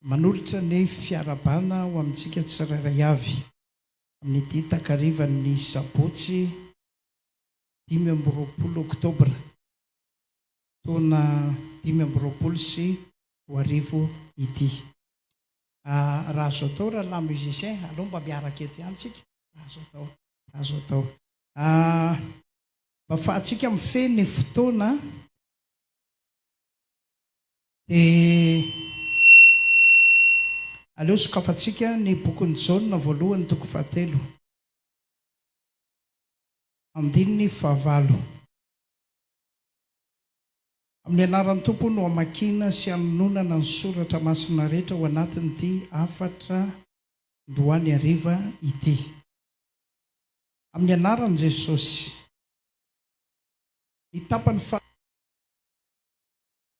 Manolotra ny fiarahabana ho amintsika tsirairay avy amin'ity takarivan'ny sabotsy dimy amby roapolo oktobra taona dimy amby roapolo sy roa arivo ity. Raha azo atao rahalahy musiciens, aleo mba miaraka eto ihany tsika raha azo atao, raha azo atao. Mba afahantsika mifehy ny fotoana. Dia aleo sokafantsika ny bokin'i Jaona voalohany toko fahatelo, andininy fahavalo. Amin'ny anaran'ny Tompo no hamakiana sy hanononana ny soratra masina rehetra ao anatin'ity hafatra androany hariva ity. Amin'ny anaran'i Jesosy. Ny tapany faha.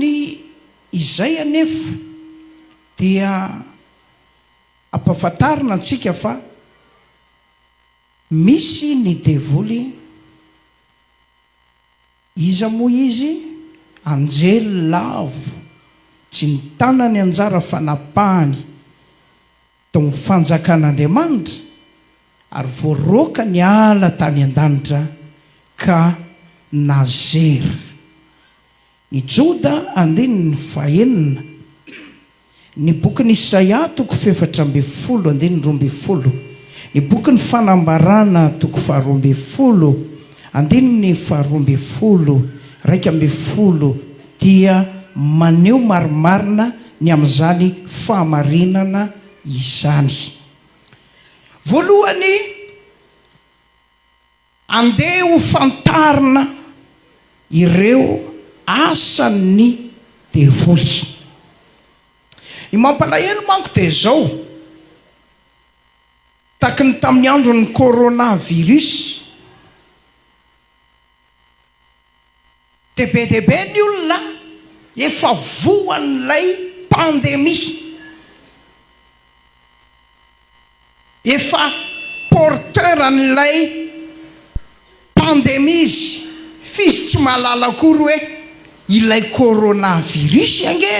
Ny izay anefa dia ampafantarina antsika fa misy ny devoly. Iza moa izy? Anjely lavo tsy nitana ny anjara fanapahany tao amin'ny Fanjakan'Andriamanitra ary voaroaka niala tany an-danitra ka nazera. I Joda andininy fahenina. Ny bokin'i Isaia, toko fefatra ambin'ny folo, andininy roa ambin'ny folo. Ny bokin'ny Fanambarana, toko faharoa ambin'ny folo, andininy faharoa ambin'ny folo, iraika ambin'ny folo, dia maneho marimarina ny amin'izany fahamarinana izany. Voalohany, Andeha ho fantarina ireo asan'ny devoly. Ny mampalahelo manko dia izao, taky ny tamin'ny andron'ny coronavirus, Dia be dia be ny olona efa voan'ilay pandemie. Efa porteur an'ilay pandemie izy. F'izy tsy mahalala akory hoe ilay coronavirus ange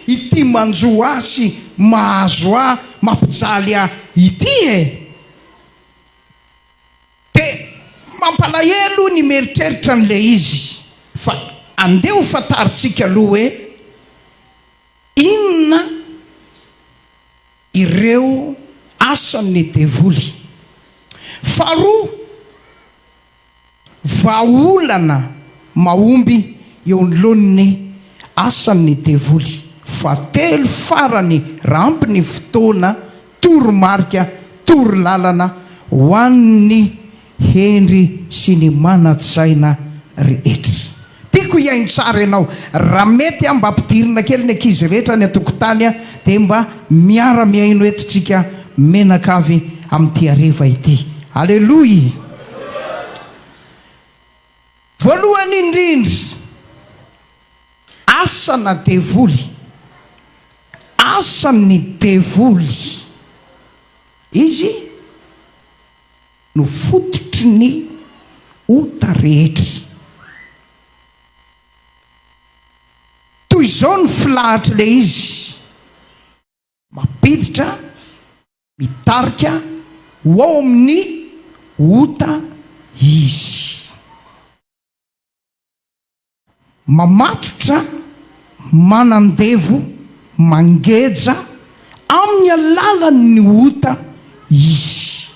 ity manjo ahy sy mahazo ahy mampijaly ahy ity e! Dia mampalahelo ny mieritreritra an'ilay izy fa andeha ho fantarintsika aloha hoe inona ireo asan'ny devoly. Faharoa, vahaolana mahomby eo anoloan'ny asan'ny devoly. Fahatelo, farany raha ampy ny fotoana. toromarika, torolalana ho an'ny hendry sy ny manan-tsaina rehetra. Tiako hihaino tsara ianao. Raha mety aho mba ampidirina kely ny ankizy rehetra any an-tokotany dia mba miara-mihaino eto tsika menaka avy amin'ity hareva ity. Aleloia! Voalohany indrindra, asana devoly, asan'ny devoly, izy no fototry ny ota rehetra. Toy izao ny filahatr'ilay izy. mampiditra, mitarika ho ao amin'ny ota izy. Mamatotra, manandevo, mangeja amin'ny alalan'ny ota izy.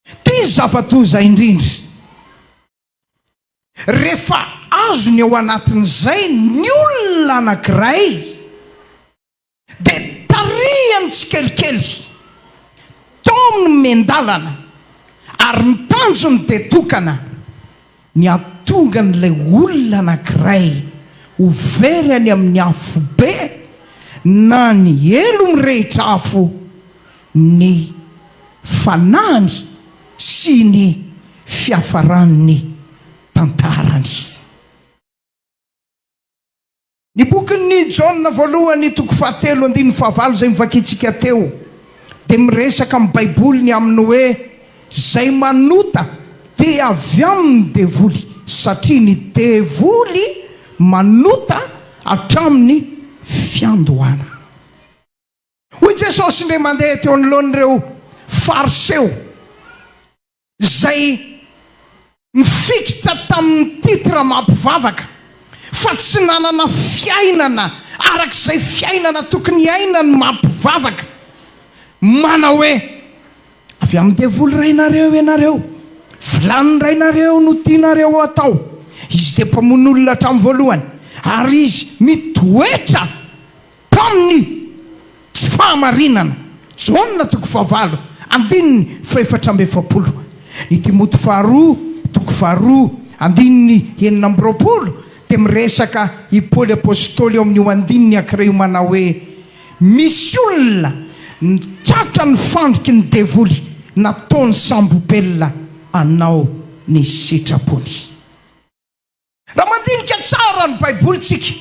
Ity zava-doza indrindra. Rehefa azony ao anatin'izay ny olona anankiray, Dia tarihany tsikelikely tao amin'ny miandalana ary ny tanjony dia tokana ny hahatonga an'ilay olona anankiray ho very any amin'ny afobe na ny helo mirehitra afo ny fanahiny sy ny fiafaran'ny tantarany. Ny bokin'ny Jaona voalohany toko fahatelo andininy fahavalo izay novakintsika teo dia miresaka amin'ny Baiboly ny amin'ny hoe izay manota dia avy amin'ny devoly satria ny devoly manota hatramin'ny fiandohana. Hoy Jesosy indray mandeha teo anoloan'ireo Fariseo izay nifikitra tamin'ny titre maha mpivavaka fa tsy nanana fiainana araka izay fiainana tokony hiaina ny maha mpivavaka, manao hoe, Avy amin'ny devoly rainareo ianareo, vilany rainareo no tianareo atao. Izy dia mpamono olona hatramin'ny voalohany ary izy mitoetra Tamin'ny tsy fahamarinana. Jaona toko fahavalo andininy fahefatra amby efapolo, ny Timoty faharoa toko faharoa andininy enina amby roapolo dia miresaka i Paoly Apostoly eo amin'io andininy ankiray io manao hoe, Misy olona nitratra ny fandriky ny devoly nataony sambo-belona hanao ny sitrapony. Raha mandinika tsara ny Baibolintsika.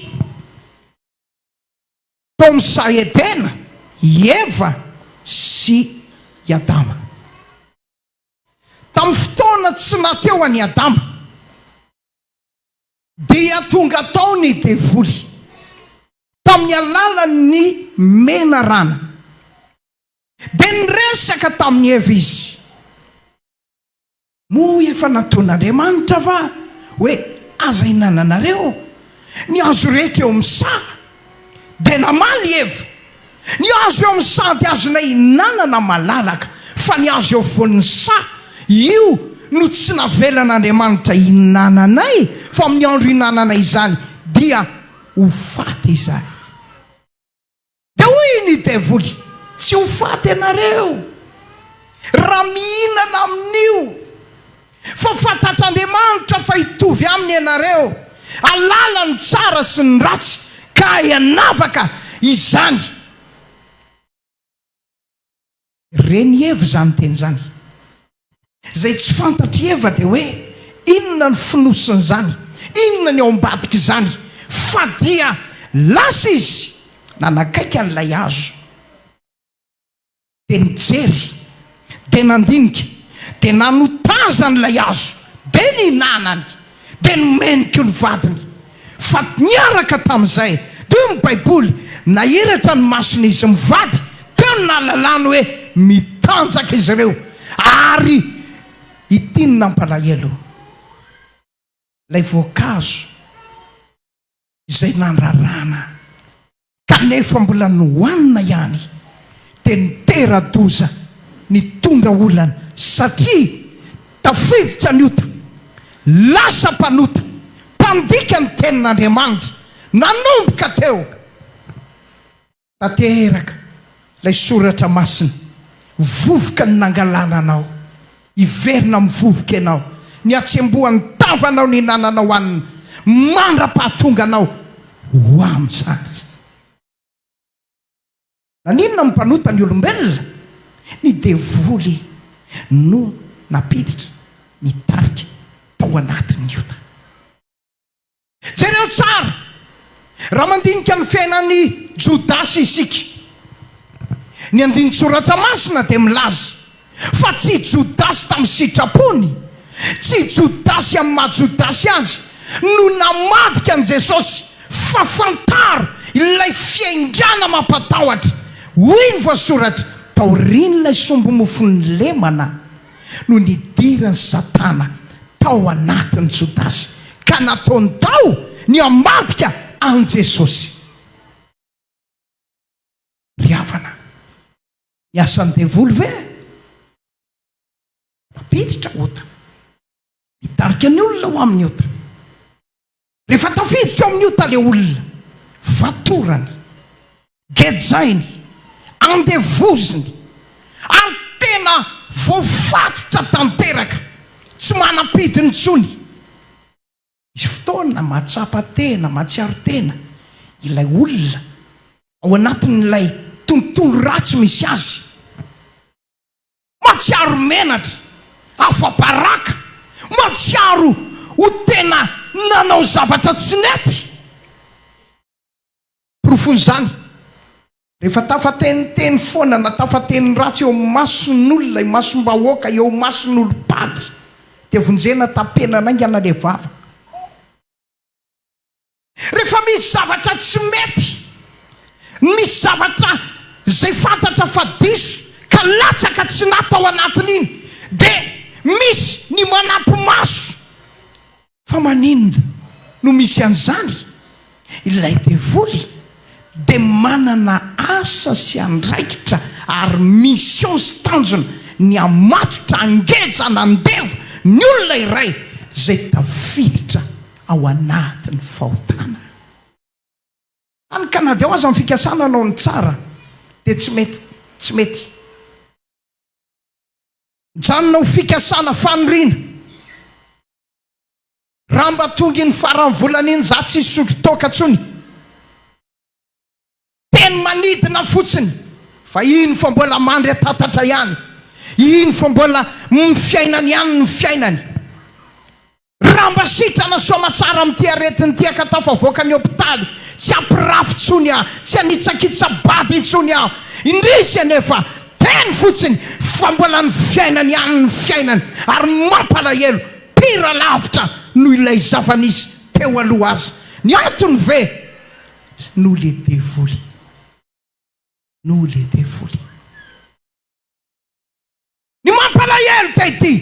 Tao amin'ny saha Edena, i Eva sy i Adama. Tamin'ny fotoana tsy nahateo an'i Adama, dia tonga tao ny Devoly, tamin'ny alalan'ny menarana. Dia niresaka tamin'i Eva izy. Moa efa nataon'Andriamanitra va hoe aza hinananareo ny hazo rehetra eo amin'ny saha? Dia namaly i Eva, Ny hazo eo amin'ny saha dia azonay hinanana malalaka, fa ny hazo eo afovoan'ny saha, io no tsy navelan'Andriamanitra hinananay, fa amin'ny andro hinananay izany dia ho faty izay. Dia hoy ny devoly, Tsy ho faty ianareo raha mihinana amin'io, fa fantatr'Andriamanitra fa hitovy aminy ianareo, hahalala ny tsara sy ny ratsy, ka hianavaka izany. Ren'i Eva izany teny izany. Izay tsy fantatr'i Eva dia hoe inona ny fonosin'izany, inona ny ao ambadik'izany, fa dia lasa izy nanakaiky an'ilay hazo, dia nijery, dia nandinika, dia nanotazany ilay hazo, dia nihinanany. dia nomeny koa ny vadiny. Fa niaraka tamin'izay, dia hoy ny Baiboly, Nahiratra ny masony izy mivady, teo no nahalalany hoe mitanjaka izy ireo, ary ity no nampalahelo, ilay voankazo. izay nandrarana kanefa mbola nohanina ihany dia nitera-doza nitondra olana satria tafiditra ny ota, lasa mpanota, mpandika ny tenin'Andriamanitra nanomboka teo. Tanteraka ilay soratra masina, vovoka ny nangalana anao, hiverina amin'ny vovoka ianao, ny hatsembohan'ny tavanao nihinananao hanina mandra-pahatonga anao ho amin'izany. Naninona no mpanota ny olombelona? Ny devoly no nampiditra ny tarika tao anatin'ny ota. Jereo tsara, raha mandinika ny fiainan'i Jodasy isika. Ny andinin-tsoratra masina dia milaza fa tsy Jodasy tamin'ny sitrapony, tsy Jodasy amin'ny maha Jodasy azy, no namadika an'i Jesosy, fa fantaro ilay fiaingàna mampatahotra. Hoy ny voasoratra, Taorian'ilay sombi-mofon'ny lemana, no nidiran'i Satana tao anatin'i Jodasy ka nataony tao ny hamadika an'i Jesosy. Ry havana, ny asan'ny devoly ve? Mampiditra ota, mitarika ny olona ho amin'ny ota. Rehefa tafiditra ao amin'ny ota ilay olona, fatorany, gejainy, andevoziny, ary tena voafatotra tanteraka, tsy manam-pidiny intsony. Misy fotoana mahatsapa tena, mahatsiaro tena ilay olona ao anatin'ilay tontolo ratsy misy azy. Mahatsiaro menatra, afa-baraka, mahatsiaro ho tena nanao zavatra tsy nety. Porofon'izany, rehefa tafateniteny foana na tafateny ratsy eo amin'ny mason'olona, imasom-bahoaka, eo imason'olom-pady, dia vonjena tampenana haingana ilay vava. Rehefa misy zavatra tsy mety, misy zavatra izay fantatra fa diso ka latsaka tsy nat ao anatin'iny dia misy ny manampi-maso. Fa maninona no misy an'izany? Ilay devoly dia manana asa sy andraikitra ary mission sy tanjona ny hamatotra, hangeja, hanandevo ny olona iray izay tafiditra ao anatin'ny fahotana. Any Canada ao aza ny fikasana hanao ny tsara dia tsy mety, tsy mety. Mijanona ho fikasana faniriana. Raha mba tonga iny faran'ny volana iny za tsy hisotro toaka tsony. Teny manidina fotsiny fa iny fa mbola mandry an-tatatra ihany, iny fa mbola mny fiainany ihany ny fiainany. Raha mba sitrana soamatsara amin'ity aretina ity aho ka tafavoaka ny hopitaly, tsy hampirafy tsony aho, tsy hanitsakitsa-bady intsony aho. Indrisy anefa, teny fotsiny fa mbola ny fiainany ihany ny fiainany ary ny mampalahelo, pire lavitra noho ilay zava-nisy teo aloha aza. Ny antony ve? Tsy noho le devoly. Noho le devoly. Ny mampalahelo dia ity,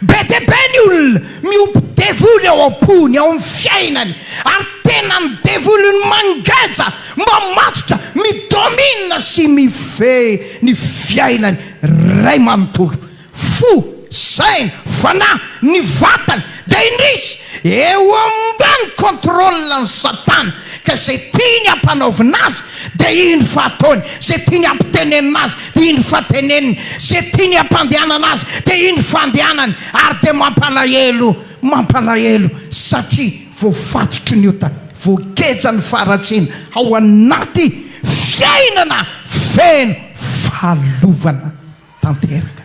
be dia be ny olona miompy devoly ao am-pony, ao amin'ny fiainany, ary tena ny devoly no mangeja, mamatotra, mi-domine sy mifehy ny fiainany iray manontolo. Fo, saina, fanahy, ny vatany, dia indrisy, eo ambany contrôle n'i Satana, ka izay tiany hampanaovina azy dia indro fa ataony, izay tiany hampitenenina azy dia indro fa teneniny, izay tiany hampandehanana azy dia indro fa andehanany, ary dia mampalahelo, mampalahelo, satria voafatotry ny ota, voageja ny faharatsiana, ao anaty fiainana feno fahalovana. tanteraka.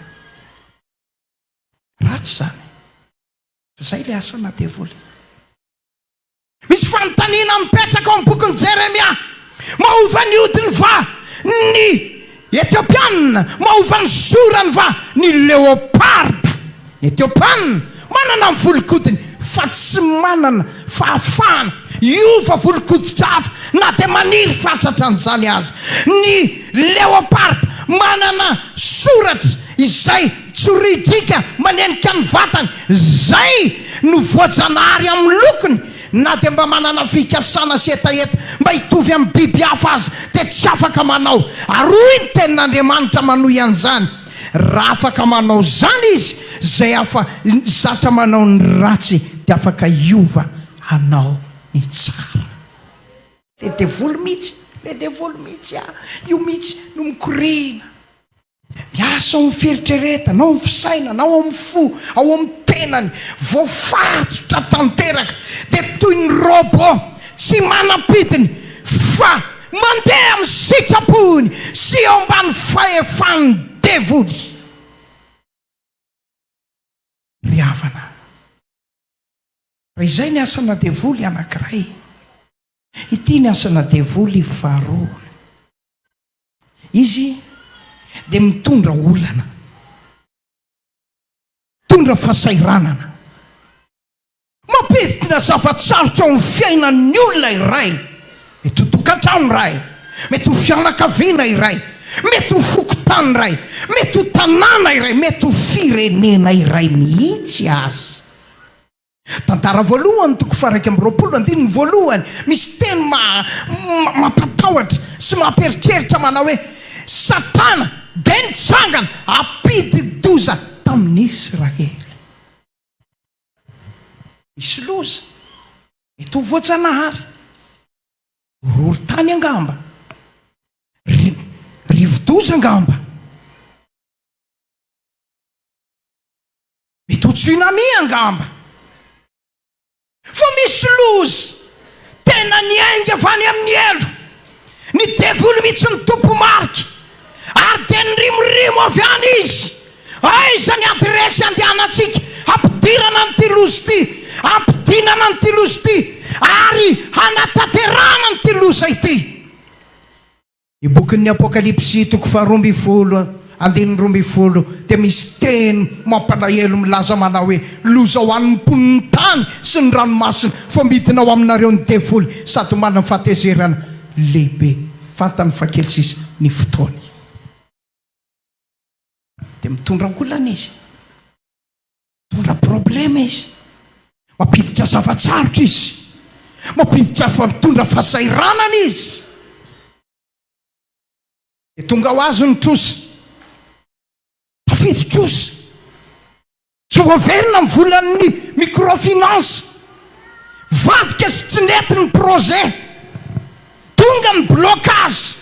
Ratsy izany. Fa izay ilay asana devoly. Misy fanontaniana mipetraka ao amin'ny bokin'i Jeremia. Mahova ny hodiny va ny Etiopiana? Mahova ny zorany va ny leoparda? Etiopana, manana ny volon-kodiny fa tsy manana fahafahana hiova volon-kodin-drafa na dia maniry fatratra an'izany aza. Ny leopard manana soratra izay tsoridrika manenika ny vatany, izay no voajanahary amin'ny lokony. Na dia mba manana fikasana sy hetaheta mba hitovy amin'ny biby hafa aza dia tsy afaka manao. Ary hoy ny Tenin'Andriamanitra manohy an'izany. Raha afaka manao izany izy, izay afa zatra manao ny ratsy dia afaka hiova hanao ny tsara. Le devoly mitsy, le devoly mitsy a! Io mitsy no mikorina, miasa ao amin'ny fieritreretana, ao amin'ny fisainana, ao amin'ny fo, ao amin'ny tenany, voafatotra tanteraka, dia toy ny robot tsy manam-pidiny fa Mandeha amin'ny sitrapony sy eo ambany fahefan'ny devoly. Ry havana, raha izay ny asana devoly anankiray, ity ny asana devoly faharoa. Izy dia mitondra olana, mitondra fahasahiranana. Mampidina zava-tsarotra ao amin'ny fiainan'ny olona iray. Mety ho tokantrano iray, mety ho fianakaviana iray, mety ho fokontany iray, mety ho tanàna iray, mety ho firenena iray mihitsy aza. Tantara voalohany, toko faha-iraika amby roapolo, andininy voalohany, misy teny ma-ma mampatahotra sy mampieritreritra manao hoe, Satana dia nitsangana hampidi-doza tamin'i Israely. Misy loza eto ho voajanahary. Horohorontany angamba. Ri, rivodoza angamba. Mety ho tsunami angamba. Fa misy loza tena niainga avy any amin'ny helo. Ny devoly mihitsy no tompo marika. Ary dia nirimorimo avy any izy. Aiza ny adiresy handehanantsika hampidirana an'ity loza ity, hampidinana an'ity loza ity ary hanatanterahana an'ity loza ity? Ny bokin'ny Apokalypsy toko faharoa ambin'ny folo andininy roa ambin'ny folo dia misy teny mampalahelo milaza manao hoe, Loza ho an'ny mponin'ny tany sy ny ranomasina, fa midina ao aminareo ny devoly sady ho manana fahatezerana lehibe. Fantany fa kely sisa ny fotoany, dia mitondra olana izy. Mitondra problème izy. Mampiditra zava-tsarotra izy. Mampiditra fa mitondra fahasahiranana izy. Dia tonga ho azy ny trosa. Tafidy trosa. Tsy voaverina ny volan'ny microfinance. Vadika sy tsy nety ny projet. Tonga ny blocage.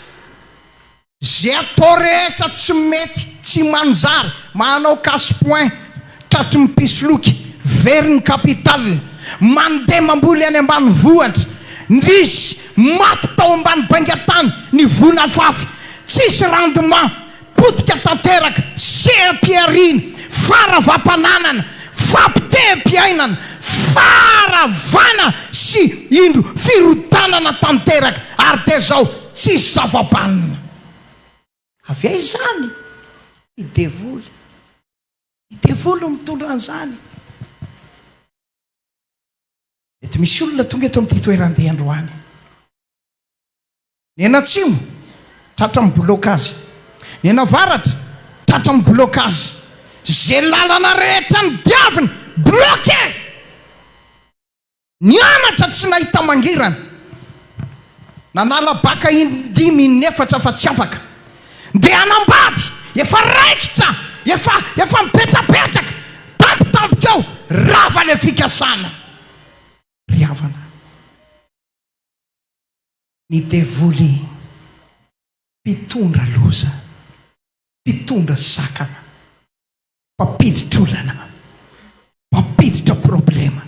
Ze atao rehetra tsy mety tsy manjary manao casse point tratry ny mpisoloky very ny capital mandeha mamboly any ambanivohitra ndrisy maty tao ambany baingatany ny volafafy tsisy rendement potika tanteraka seha-pihariana faravapananana fampiteha-piainana faravana sy indro firodanana tanteraka ary de zao Tsisy zava-banona. Avy aiza izany? Ny devoly. Ny devoly no mitondra an'izany. Mety misy olona tonga eto amin'ity toeran-dia androany. Ny eny atsimo, tratra amin'ny bilaokazy. Ny eny avaratra, tratra amin'ny bilaokazy. Izay lalana rehetra nodiaviny, bloqué! Nianatra tsy nahita mangirana. Nanala baka indimy inefatra fa tsy afaka. Ndeha hanambady, efa raikitra, efa efa mipetrapetraka, tampotampoka eo, rava le fikasana. Ry havana. Ny devoly mpitondra loza, mpitondra sakana. Mpampiditra olana, mpampiditra problema.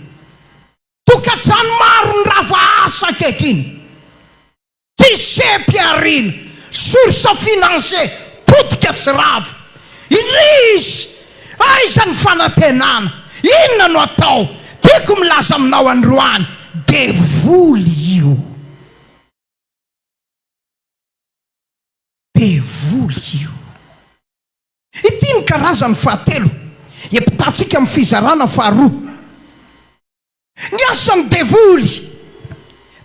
Tokantrano maro ny rava asa ankehitriny. Tsy seha-pihariana, source financier, potika sy rava. Indrisy! Aiza ny fanantenana? Inona no atao? Tiako milaza aminao androany, devoly io. Devoly io. Ity ny karazany fahatelo epitantsika amin'ny fizarana faharoa. Ny asan'ny devoly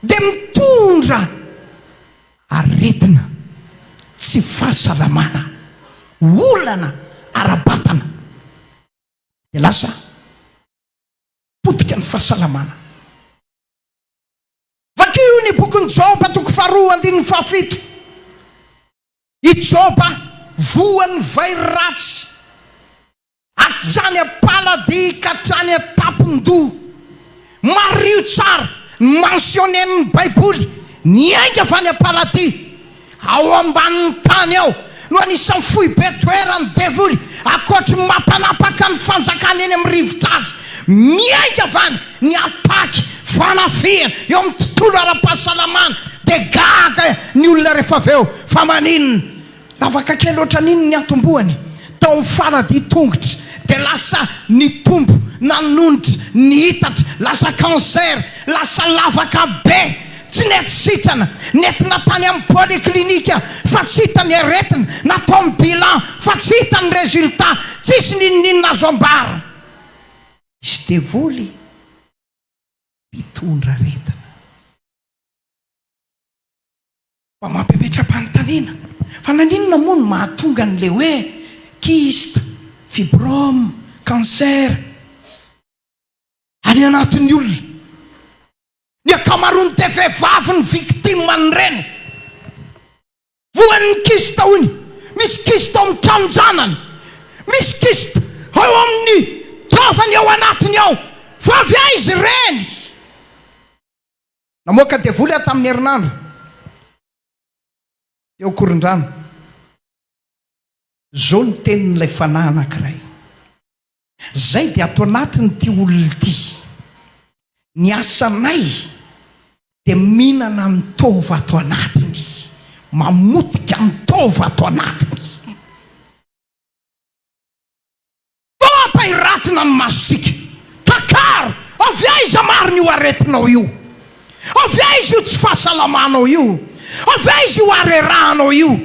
dia mitondra aretina, tsy fahasalamana, olana ara-batana. Dia lasa potika ny fahasalamana. Vakio ny bokin'i Joba toko faharoa andininy fahafito. I Joba voan'ny vairy ratsy, hatrany am-paladia ka hatrany an-tampon-doha. Mariho tsara ny mentionner-n'ny Baiboly ny ainga avy any am-paladia. Ao ambanin'ny tany ao no anisan'ny foibe toeran'ny devoly, ankoatry ny mampanapaka ny fanjakany eny amin'ny rivotra azy. Miainga avana ny attaque fanafihana eo amin'ny tontolo ara-pahasalamana dia gaga ny olona rehefa avy eo fa maninona? Lavaka kely ohatran'iny niantombohany tao amin'ny faladia tongotra dia lasa nitombo nanonitra niitatra lasa cancer lasa lavaka be tsy nety sitrana nentina tany amin'ny polyclinique fa tsy hita ny aretina natao ny bilan fa tsy hita ny résultat tsisy n'inon'inona azo ambara Misy devoly mpitondra aretina mba mampimetram-panontaniana fa naninona moa no mahatonga an'ilay hoe kyste, fibrome, cancer any anatin'ny olona. Ny ankamaroany dia vehivavy no victime an'ireny. Voan'ny kista hono. Misy kista ao amin'ny tranon-janany. Misy kista ao amin'ny taovany ao anatiny ao. Fa avy aiza ireny? Namoaka devoly aho tamin'ny herinandro teo Korondrano. Izao no tenin'ilay fanahy anankiray. Izay dia ato anatin'ity olona ity. Ny asanay dia mihinana ny taova ato anatiny, mamotika ny taova ato anatiny. Ampahiratina ny masontsika. Takaro! Avy aiza marina io aretinao io? Avy aiza io tsy fahasalamanao io? Avy aiza io harerahanao io?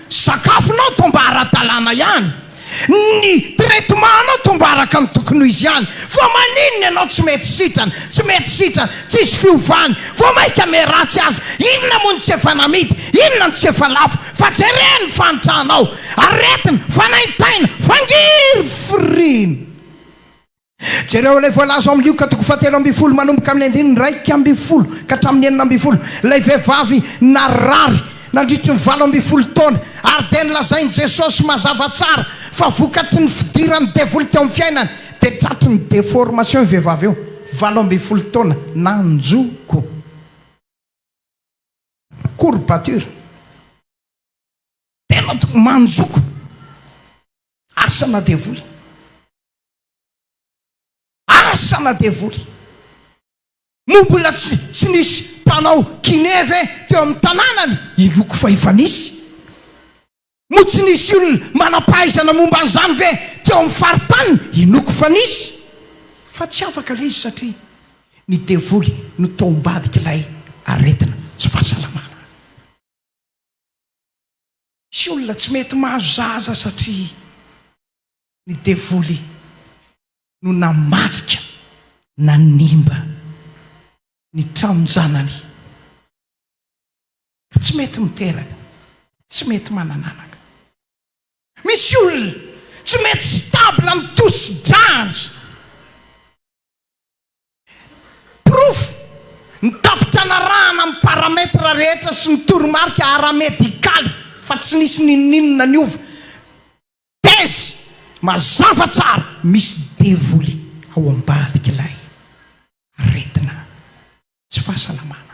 Sakafonao toa mba ara-dalàna ihany, ny traitement-nao toa mba araka ny tokony ho izy ihany, fa maninona ianao tsy mety sitrana, tsy mety sitrana, tsisy fiovany, vao mainka miharatsy aza, inona moa no tsy efa namidy, inona no tsy efa lafo, fa jereo ny fanitrahanao, aretina, fanaintaina, fangirifiriana. Jereo ilay voalaza ao amin'ny Lioka toko fahatelo ambin'ny folo manomboka amin'ny andininy iraika ambin'ny folo ka hatramin'ny enina ambin'ny folo, ilay vehivavy narary nandritry ny valo ambin'ny folo taona, ary dia nolazain'i Jesosy mazava tsara fa vokatry ny fidiran'ny devoly teo amin'ny fiainany, dia tratry ny deformation io vehivavy io, valo ambin'ny folo taona nanjoko. Courbature. Tena manjoko. Asana devoly. Asana devoly. Moa mbola tsy tsy nisy mpanao kiné ve teo amin'ny tanànany i Loko fa efa nisy? Moa tsy nisy olona manam-pahaizana momba an'izany ve teo amin'ny faritaniny i Noko fa nisy? Fa tsy afaka ilay izy satria ny devoly no tao ambadik'ilay aretina tsy fahasalamana. Tsy olona tsy mety mahazo zaza satria ny devoly no namadika nanimba ny tranon-janany ka tsy mety miteraka, tsy mety manana anaka. Misy olona tsy mety stable amin'ny tosi-drany. Porofo, Ny tampim-pianarahana amin'ny paramètre rehetra sy ny toromarika ara-medikaly fa tsy nisy n'inon'inona niova. Thèse, Mazava tsara, misy devoly ao ambadik'ilay aretina tsy fahasalamana.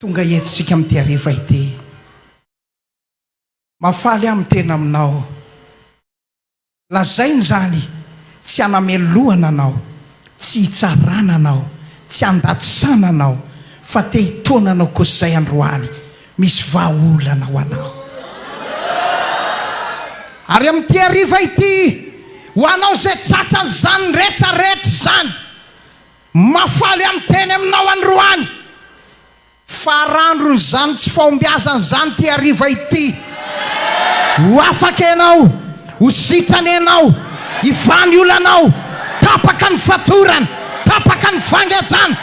Tonga eto tsika amin'ity hariva ity. Mahafaly aho miteny aminao. Lazaina izany, tsy hanamelohana anao, tsy hitsarana anao, tsy handatsana anao, fa te hitaona anao kosa izay androany. Misy vahaolana ho anao. Ary amin'ity hariva ity, ho anao izay tratran'izany rehetra rehetra izany, Mahafaly amin'ny teny aminao androany, fa arandron'izany tsy fahombiazana izany ity hariva ity. Ho afaka ianao, ho sitrana ianao, hivaha ny olanao, tapaka ny fatorana, tapaka ny fangajana,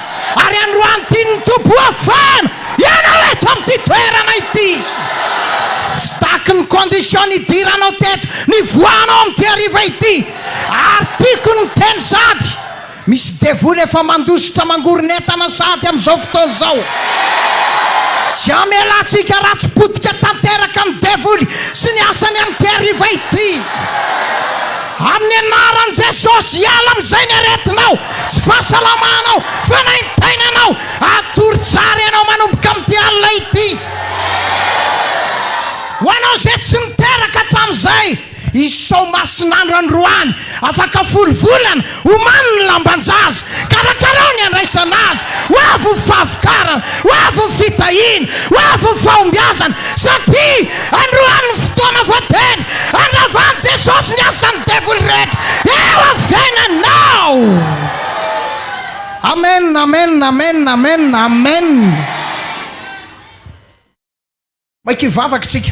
ary androany tian'ny Tompo hoafahana ianao eto amin'ity toerana ity. Tsy taky ny condition nidiranao teto, nivoahanao amin'ity hariva ity, ary tiako ny miteny sady. Misy devoly efa mandositra mangoron'entana sahady amin'izao fotoana izao. Tsy hamelantsika ratsy potika tanteraka ny devoly sy ny asany amin'ity hariva ity. Amin'ny anaran'i Jesosy, hiala amin'izay ny aretinao, tsy fahasalamanao, fanaintainanao. Hatory tsara ianao manomboka amin'ity alina ity. Ho anao izay tsy niteraka hatramin'izay, Izao masin'andro androany, afaka folo volana, omano ny lamban-jaza, karakarao ny handraisana azy, ho avy ny fahavokarana, ho avy ny fitahiana, ho avy ny fahombiazana, satria androany ny fotoana voatendry handravan'i Jesosy ny asan'ny devoly rehetra eo amin'ny fiainanao. Amen, amen, amen, amen, amen. Maika hivavaka isika.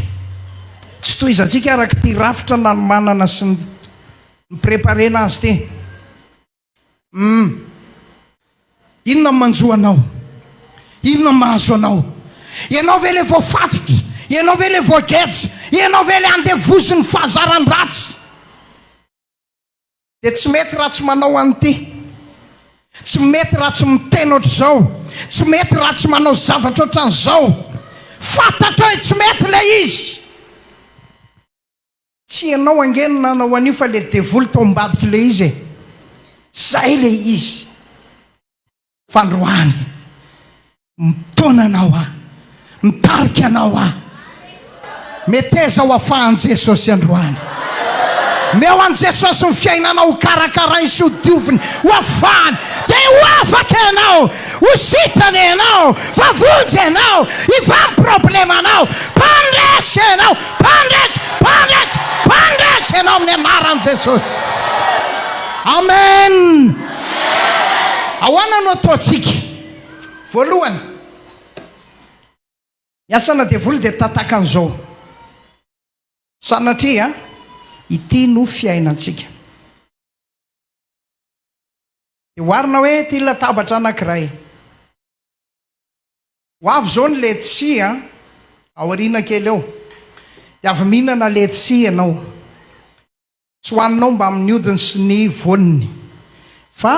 Tsy tohizantsika araka ity rafitra nanomanana sy ni-preparer-na azy ity. Uhm. Inona no manjo anao? Inona no mahazo anao? Ianao ve ilay voafatotra? Ianao ve ilay voageja? Ianao ve ilay andevozin'ny fahazaran-dratsy? Dia tsy mety raha tsy manao an'ity, tsy mety raha tsy miteny ohatr'izao, tsy mety raha tsy manao zavatra ohatran'izao. Fantatro hoe tsy mety ilay izy. Tsy ianao ange no nanao an'io fa ilay devoly tao ambadik'ilay izy e. Izay ilay izy. Fa androany, mitaona anao aho, mitarika anao aho. Meteza ho afahan'i Jesosy androany. Meo an'i Jesosy ny fiainanao ho karakarainy sy ho dioviny, ho afahany. Dia ho afaka ianao, ho sitrana ianao, fa vonjy ianao, hivaha ny problemanao. Mpandresy ianao, mpandresy, mpandresy, mpandresy ianao amin'ny anaran'i Jesosy. Amen. Ahoana no ataontsika? Voalohany, ny asanà devoly dia tataka an'izao, sanatria ity no fiainantsika. Dia oharina hoe ity latabatra anankiray, ho avy izao ny letchi a, aoriana kely eo dia avy mihinana letchi ianao. Tsy ho aninao mbamin'ny hodiny sy ny voaniny, fa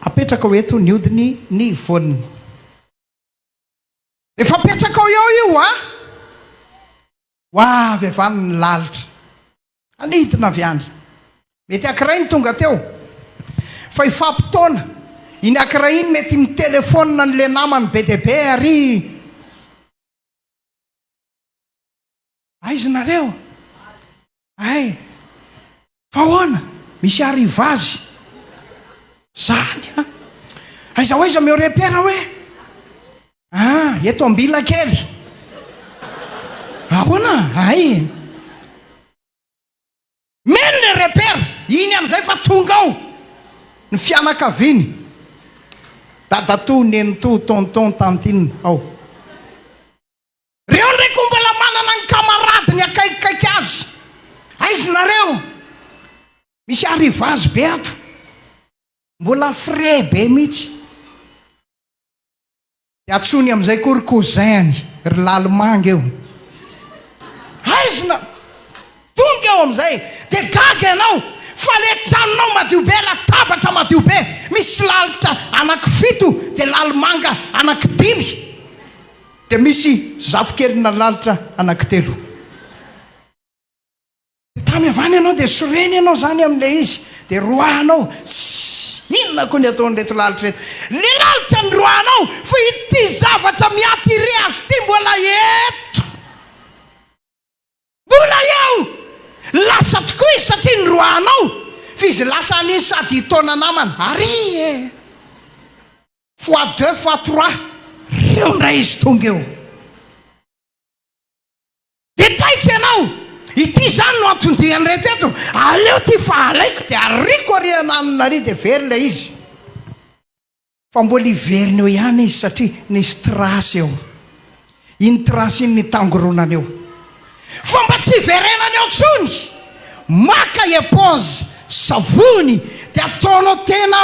apetrakao eto ny hodiny ny voaniny. Rehefa apetrakao eo io hoa, ho avy avy any ny lalitra, hanidina avy any. Mety ankiray ny tonga teo, fa hifampitaona, iny ankiray iny mety mitelefaonina an'ilay namany be dia be ary. Aiza nareo ay fa ahoana misy arriva azy zany a aiza ho aiza meo repera hoe ah eto ambilakely ahoana ay meno le repera iny amizay fa tonga ao ny fianakaviany dadatoa nenitoa tonton tantine ao Reo ndray ko mbola manana ny kamaradiny akaikikaiky azy. Aiz nareo? Misy arrivage be ato. Mbola frais be mitsy. De atsony amzay ko ry cousin-ny, ry lalimanga eo. Aiz na? Tonga eo amzay. De gaga ianao fa le tranonao madio be, latabatra madio be, misy lalitra anaky fito de lalimanga anaky dimy. Dia misy zafikelina lalitra anankitelo. Dia tamy avany ianao dia sorena ianao izany amin'ilay izy, dia roahanao. Tssy! Inona koa ny ataon'ireto lalitra ireto? Ilay lalitra no roahanao, fa ity zavatra miaty re azy ity mbola eto! Mbola eo! Lasa tokoa izy satria niroahanao f'izy lasa an'iny sady hitaona namana ary e! Fois deux fois trois reo indray izy tonga eo. Dia taitra ianao! Ity izany no anton-dian'ireto eto, aleo ity fa alaiko dia ariako ary iananona ary dia very ilay izy. Fa mbola hiverina eo ihany izy satria nisy trace eo. Iny trace iny nitangoronana eo. Fa mba tsy hiverenany eo intsony! Maka eponge, savony, dia ataonao tena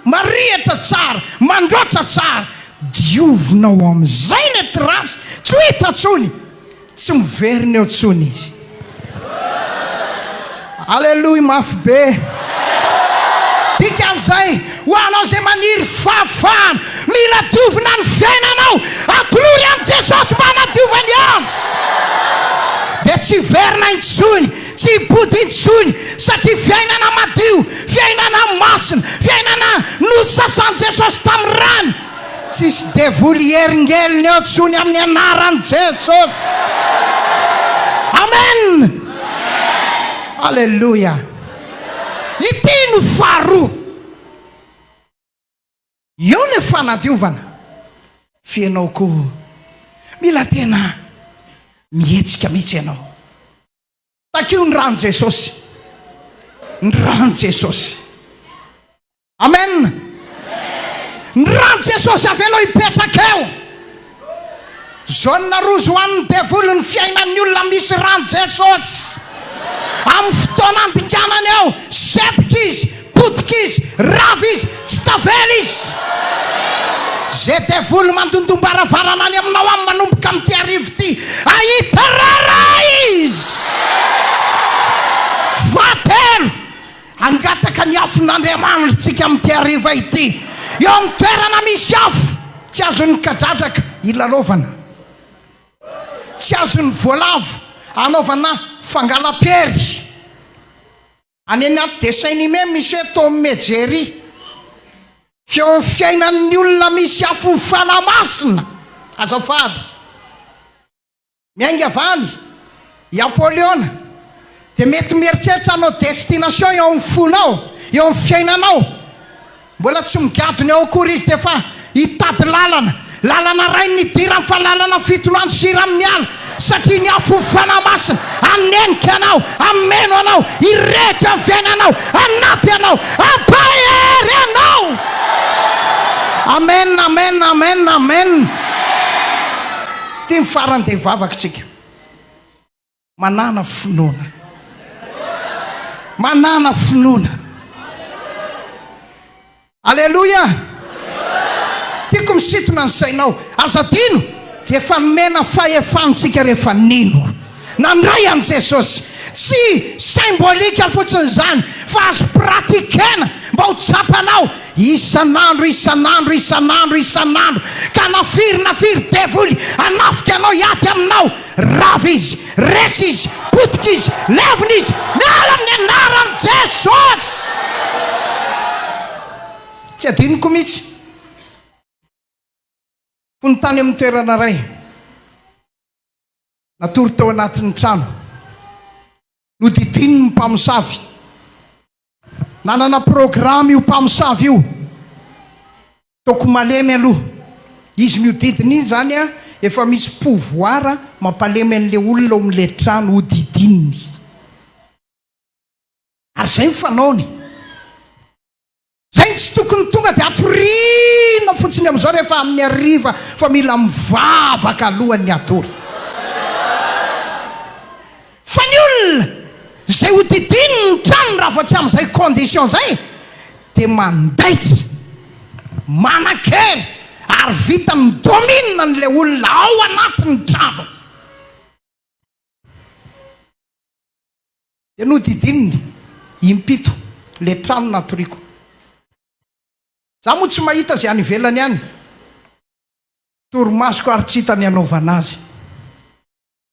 marihitra tsara, mandraotra tsara. Diovina ao amin'izay ilay trace, tsy ho hita intsony! Tsy miverina eo tsony izy. Aleloia mafy be. Dikan'izay, ho anao izay maniry fahafahana, mila diovina ny fiainanao, atolory amin'i Jesosy mba hanadiovany azy. Dia tsy hiverina intsony, tsy hipody intsony, satria fiainana madio, fiainana masina, fiainana nosasan'i Jesosy tamin'ny rany. Tsisy devoly heringelina eo tsony aminy anarany Jesosy Amen Aleloia Ity no faharoa Eo le fanadiovana Fa enao ko mila tena mihetsika mitsy enao Takio ny ran'i Jesosy. Ny ran'i Jesosy. Amen. Ny ran'i Jesosy avelo hipetraka eo. Zona rozy ho an'ny devoly ny fiainan'ny olona misy ran'i Jesosy. Amin'ny fotoana andinganany eo, sepitra izy. Potika izy, rava izy, tsy tavela izy. Ze devoly mandondom-baravarana any aminao any manomboka amin'ity hariva ity, ahita rara izy. Fahatelo, hangataka ny afon'Andriamanirtsika amin'ity hariva ity. Eo amin'ny toerana misy afo, tsy azon'ny kadradraka hilalaovana. Tsy azon'ny voalavo hanaovana fangalam-pery. Any anaty dessin anime misy hoe Tom et Jerry. Feo fiainan'ny olona misy afo fanahy masina. Azafady. Miainga va any? I Apoliona dia mety mieritreritra hanao destination eo amin'ny fonao, eo amin'ny fiainanao. Mbola tsy migadona eo akory izy dia efa hitady lalana. Lalana rainy ny idirany fa lalana fitoloanjo sy hiran'ny miala satria ny afo Fanahy Masina hanenika anao, hameno anao, hirehitra amin'ny fiainanao, hanampy anao, hampahery anao. Amen, amen, amen, amen. Ity ny farany dia hivavaka isika. Manana finoana. Manana finoana. Aleloia. Tiako misintona ny sainao. Aza adino dia efa nomena fahefana antsika rehefa nino. Nandray an'i Jesosy. Tsy symbolique fotsiny izany fa azo pratiquena mba ho tsapanao isan'andro, isan'andro, isan'andro, isan'andro ka na firy na firy devoly hanafika anao hiady aminao Rava izy, resy izy, potika izy, levona izy, miala amin'ny anaran'i Jesosy! Tsy adinoko mihitsy. Fony tany amin'ny toerana iray, natory tao anatin'ny trano, nodidinin'ny mpamosavy Nanana programa io mpamosavy io. Toko malemy aloha. Izy mihodidina iny zany a, efa misy pouvoir mampalemy an'le olona ao amin'le trano hodidininy. Ary zay ny fanaony. Zay no tsy tokony tonga dia atoriana fotsiny am'zao rehefa amin'ny hariva fa mila mivavaka alohan'ny hatory. Fa ny olona izay hodidininy ny tranony raha vao tsy amin'izay condition izay dia mandaitra, manan-kery ary vita mi-domine an'ilay olona ao anatin'ny tranony. Dia nodidininy impito ilay trano natoriako. Izaho moa tsy mahita izay any ivelany any, torimasoko ary tsy hita ny hanaovana azy.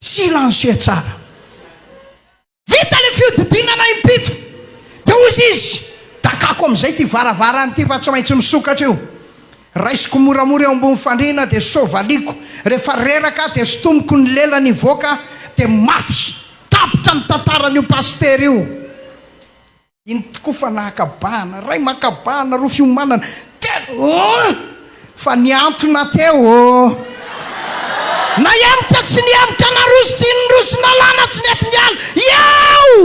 Silencieux tsara. Vita le fiodidinana impito de hozy izy, dakako amizay ty varavarana ty fa tsy maintsy misokatra io. Raisiko moramora eo ambony fandriana de sovaliako, refa reraka de sontomiko ny lelany hivoaka de maty. Tapitra ny tantaran'io pasitera io. Iny tokoa fa nahakabahana, ray makabahana roa fiomanana telo oh! Fa nihantona teo oh! Nahemotra tsy nihemotra naroso tsy niroso nalana tsy nety niala iao!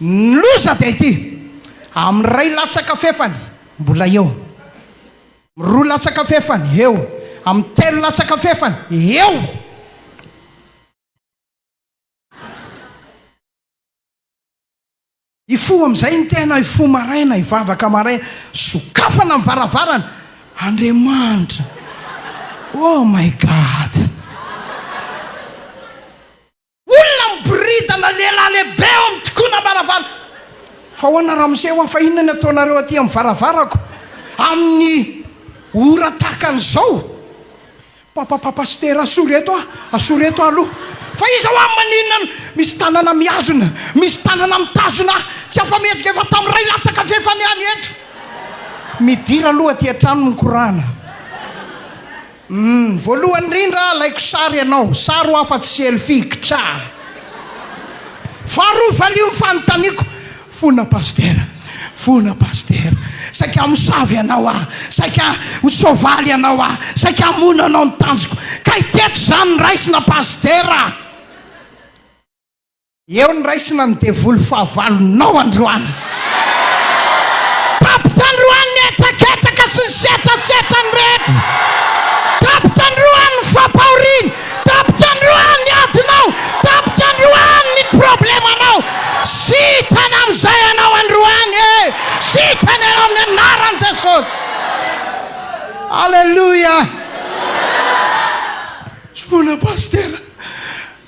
Ny loza dia ity, amin'ny ray latsaka fefany mbola eo, amin'ny roa latsaka fefany eo, amin'ny telo latsaka fefany eo! Hifoha amin'izay ny tena, hifoha maraina, hivavaka maraina. Sokafana ny varavarana. Andriamanitra. Oh my God. Olona miboridana, lehilahy lehibe eo amin'ny tikonam-baravara. Fa ahoana ramose hoa, fa inona ny ataonareo aty amin'ny varavarako amin'ny ora tahaka an'izao? Papapapa pasitera asoro eto a! Asoro eto a aloha fa iza hoa maninona no misy tanana mihazona, misy tanana mitazona ahy tsy afa-mihetsika efa tamin'ny iray latsaka f'efa ny any eto. Midira aloha aty an-trano no mikorana. Humm voalohany indrindra alaiko sary ianao, sary hoa fa tsy selfie, kchaa. Faharoa valio ny fanontaniako. Fona Pasitera, fona Pasitera, saika hamosavy ianao aho, saika ho soavaly ianao aho, saika hamono anao ny tanjoko, kay teto izany ny raisina Pasitera! Eo ny raisina ny devoly fahavalonao androany! Tapitra androany ny hetraketaka sy ny setrasetra ny rehetra! Tapitra androany ny fampahoriana! Tapitra androany ny adinao, tapitra androany ny problemanao. Sitrana amin'izay ianao androany e! Sitrana ianao amin'ny anaran'i Jesosy. Aleloia. Tsofoina Pasitera.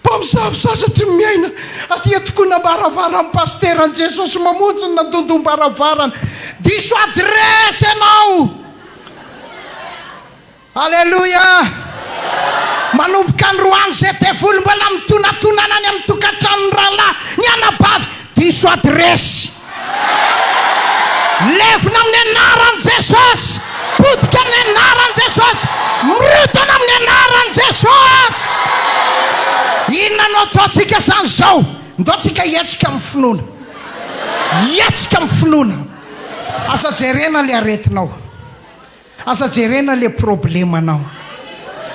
Mpamosavy sasatry ny miaina aty an-tokoana am-baravara amin'ny Pasitera an'i Jesosy mamonjy ny nandondom-baravarana. Diso adiresy ianao. Aleloia! Manomboka androany izay devoly mbola mitonantonana any amin'ny tokantranon'ny rahalahy, ny anabavy, diso adiresy. Levona amin'ny anaran'i Jesosy! Potika amin'ny anaran'i Jesosy! Mirotana amin'ny anaran'i Jesosy! Inona no ataontsika izany izao? Ndaontsika hihetsika amin'ny finoana. Hihetsika amin'ny finoana. Aza jerena ilay aretinao. Aza jerena le problemanao.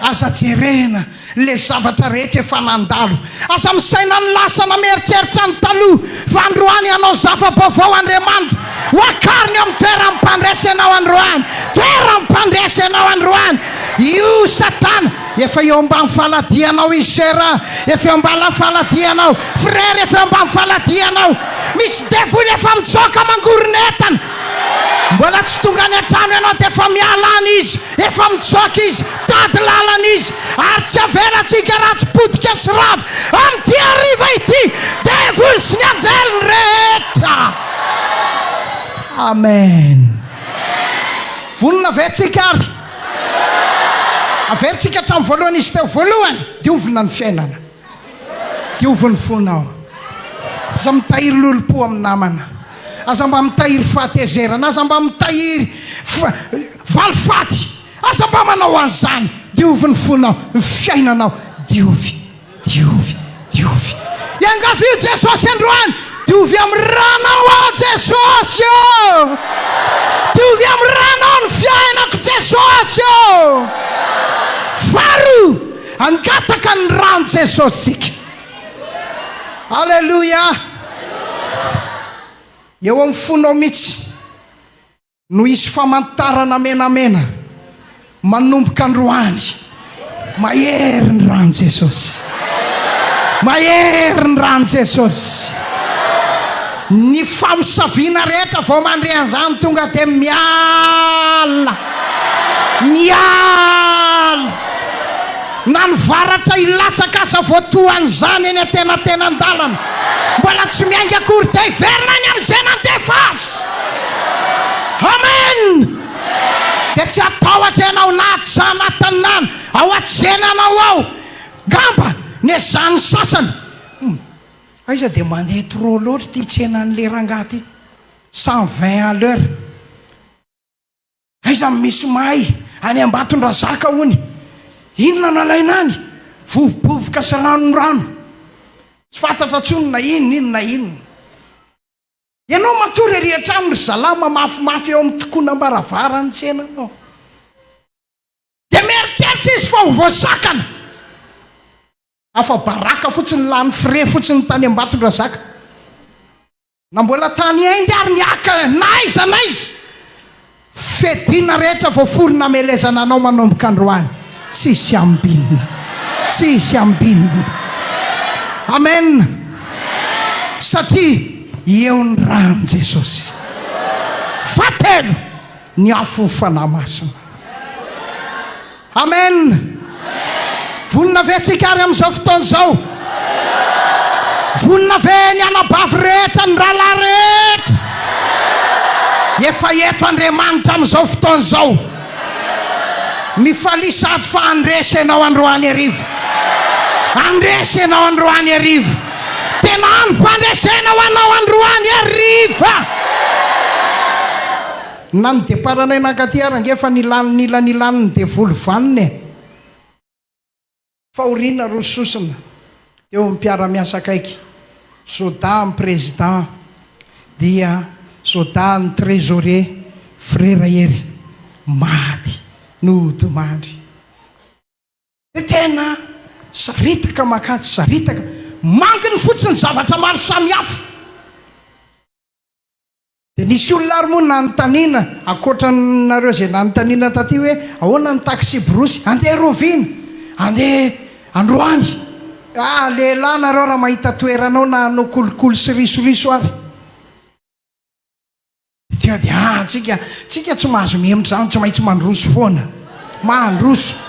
Aza jerena le zavatra rehetra efa nandalo. Aza misaina ny lasa na mieritreritra ny taloha fa androany hanao zava-baovao Andriamanitra. Ho akariny eo amin'ny toeran'ny mpandresy anao androany. Toeran'ny mpandresy anao androany. Io satana efa eo ambany faladianao izy sœur a. Efa eo ambany faladianao. Frère efa eo ambany faladianao. Misy devoly efa mitsoaka mangoron'entana. Mbola tsy tonga any an-trano ianao dia efa miala any izy, efa mitsoaka izy, tady lalana izy, ary tsy avelantsika ratsy potika sy rava amin'ity hariva ity, devoly sy ny anjeliny rehetra. Amen. Vonona ve tsika ary? Averintsika hatramin'ny voalohany izy teo voalohany, diovina ny fiainana. Diovy ny fonao. Aza mitahiry lolompo amin'ny namana. Aza mba mitahiry fahatezerana. Aza mba mitahiry valifaty. Aza mba manao an'izany. Diovy ny fonao, ny fiainanao. Diovy, diovy, diovy. Iangavio Jesosy androany. Diovy amin'ny ranao aho Jesosy ô. Diovy amin'ny ranao ny fiainako Jesosy ô. Faharoa. Hangataka ny ran'i Jesosy isika. Aleloia! Eo amin'ny fonao mihitsy no hisy famantarana menamena manomboka androany. Mahery ny ran'i Jesosy. Mahery ny ran'i Jesosy. Ny famosaviana rehetra vao mandre an'izany tonga dia miala. Ny ala na ny varatra hilatsaka aza voatohan'izany eny antenatenan-dalana. Mbola tsy miainga akory dia hiverina any amin'izay nandefa azy. Amen! Dia tsy hatahotra ianao na atsy anatiny na ao atsenanao ao. Ngamba nezahan'ny sasany hoe, Aiza dia mandeha trop loatra ity tsenan'ilay rangahy ity. Cent vingt à l'heure. Aiza no misy mahay? Any Ambatondrazaka hono. Inona no alaina any? Vovobovoka sy ranorano. Tsy fantatra intsony na inona iny na inona. Ianao matory ery an-trano ry zalahy mamafimafy eo amin'ny tokonam-baravaran'ny tsenanao. Dia mieritreritra izy fa ho voasakana. Afa-baraka fotsiny, lany frais fotsiny tany Ambatondrazaka. Na mbola tany Inde ary ny haka na aiza na aiza. Fedina rehetra voafoly namelezana anao manomboka androany tsisy ambinina tsisy ambinina Amen satria eo ny rany Jesosy Fahatelo ny afo fanahy masina. Amen! Vonona ve tsika ary amin'izao fotoana izao? Vonona ve ny anabavy rehetra, ny rahalahy rehetra? Efa eto Andriamanitra amin'izao fotoana izao. Mifalia sady fa handresy ianao androany hariva. Handresy ianao androany hariva. Tena androm-pandresena ho anao androany hariva. Na ny deparanay nankaty ary ange efa nilany nila nilany ny devoly vanona e! Fahoriana roa sosona teo amin'ny mpiara-miasa akaiky, Zoda an'ny Président dia Zoda an'ny Trésorier Frera Hery maty nodimandry. Dia tena saritaka mankany saritaka mankiny fotsiny zavatra maro samihafa. Dia nisy olona ary moa nanontaniana, ankoatra anareo izay nanontaniana taty hoe ahoana ny taksiborosy, andeha roviana? Andeha androany. Ah, lehilahy nareo raha mahita toerana ao na hanao kolikoly sy risoriso ary. Dia dia ah, antsika, antsika tsy mahazo mihemotra izany, tsy maintsy mandroso foana. Mandroso.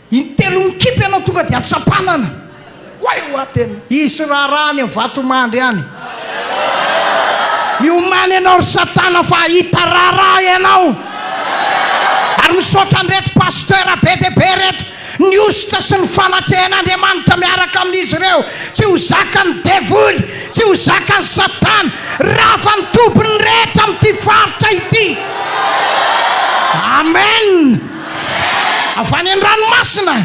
Intelo mikipy ianao tonga dia atsampanana. Oay oa tena. Hisy raharaha any Vatomandry any. Miomana ianao ry satana fa hahita raharaha ianao. Ary misaotra an'ireto pasteur be dia be ireto. Ny hosotra sy ny fanatrehan'Andriamanitra miaraka amin'izy ireo. Tsy ho zakan'ny devoly, tsy ho zakan'i satana. Rafa ny tobin'ny rehetra amin'ity faritra ity. Amen. Avy any an-dranomasina,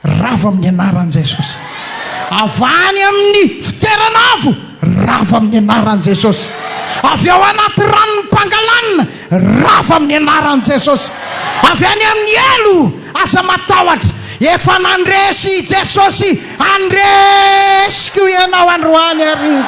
ravo amin'ny anaran'i Jesosy. Avy any amin'ny fitoerana avo, ravo amin'ny anaran'i Jesosy. Avy ao anaty ranon'ny mpangalanina, ravo amin'ny anaran'i Jesosy. Avy any amin'ny helo, aza matahotra. Efa nandresy i Jesosy, handresy koa ianao androany hariva.